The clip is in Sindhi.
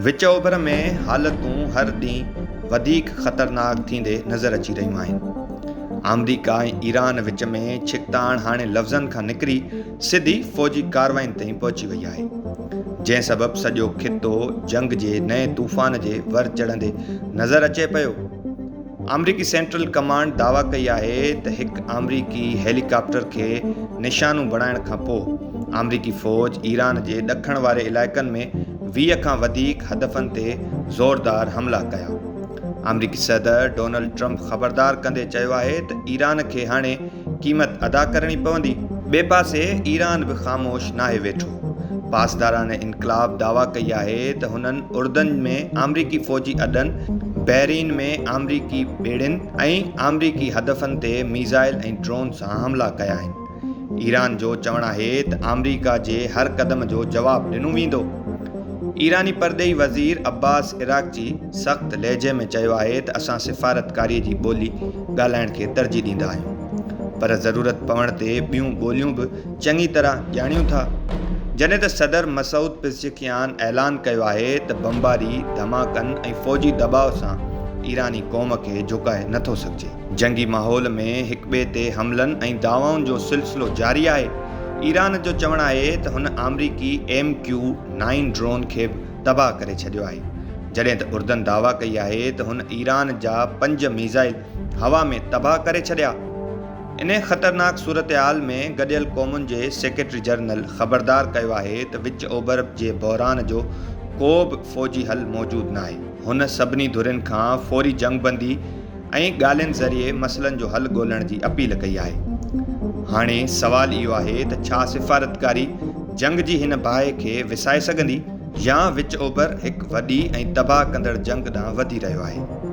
وچ اوڀر ۾ حالتون هر ڏينهن وڌيڪ خطرناڪ ٿيندي نظر اچي رهيون آهن. آمريڪا ۽ ايران وچ ۾ ڇڪتاڻ هاڻي لفظن کان نڪري سڌي فوجي ڪارواين تائين پهچي وئي آهي. جنهن سبب سڄو خطو جنگ جي نئين طوفان جي ور چڙهندي نظر اچي پيو. آمريڪي سينٽرل ڪمانڊ دعويٰ ڪئي آهي ته هڪ آمريڪي هيلي ڪاپٽر کي نشانو بڻائڻ کان پوء آمريڪي فوج ايران جي ڏکڻ واري علائقن ۾ ويهه کان وڌيڪ هدفن تي زوردار حملا ڪيا. آمريڪي صدر ڊونلڊ ٽرمپ خبردار ڪندي چيو آهي ته ايران کي هاڻي قيمت ادا ڪرڻي پوندي. ٻئي پاسي ايران به خاموش ناهي ويٺو. پاسداران انقلاب دعويٰ ڪئي آهي ته هنن اردن ۾ آمريڪي فوجي اڏن، بحرين ۾ آمريڪي ٻيڙين ۽ آمريڪي هدفن تي ميزائل ۽ ڊرون سان حملا ڪيا آهن. ايران جو چوڻ آهي ته آمريڪا جي هر قدم جو جواب ڏنو ويندو. ايراني پرڏيهي وزير عباس عراقچي سخت لهجي ۾ چيو آهي ته اسان سفارتڪاري جي ٻولي ڳالهائڻ کي ترجيح ڏيندا آهيون پر ضرورت پوڻ تي ٻيون ٻوليون به چڱي طرح ڄاڻيون ٿا جڏهن ته صدر مسعود پزشڪيان اعلان ڪيو آهي ته بمباري ڌماڪن ۽ فوجي دٻاء سان ايراني قوم کي جهڪائي نٿو سگهجي جنگي ماحول ۾ هڪٻئي تي حملن ۽ دعوائن جو سلسلو جاري آهي ايران جو چوڻ آهي ته هن آمريڪي ايم ڪيو نائين ڊرون کي به تباهه ڪري ڇڏيو آهي، جڏهن ته اردن دعويٰ ڪئي آهي ته هن ايران جا پنج ميزائل هوا ۾ تباهه ڪري ڇڏيا. انهيء خطرناڪ صورتحال ۾ گڏيل قومن جي سيڪريٽري جنرل خبردار ڪيو آهي ته وچ اوڀر جي بحران جو ڪو به فوجي حل موجود ناهي. هن سڀني ڌرين کان فوري جنگبندي ۽ ڳالهين ذريعي مسئلن جو حل ڳولڻ جي اپيل ڪئي آهي. هاڻي سوال اهو آهي ته ڇا سفارتڪاري جنگ جي هن باهه کي وسائي سگهندي يا وچ اوڀر هڪ وڏي ۽ تباهه ڪندڙ جنگ ڏانهن وڌي رهيو آهي.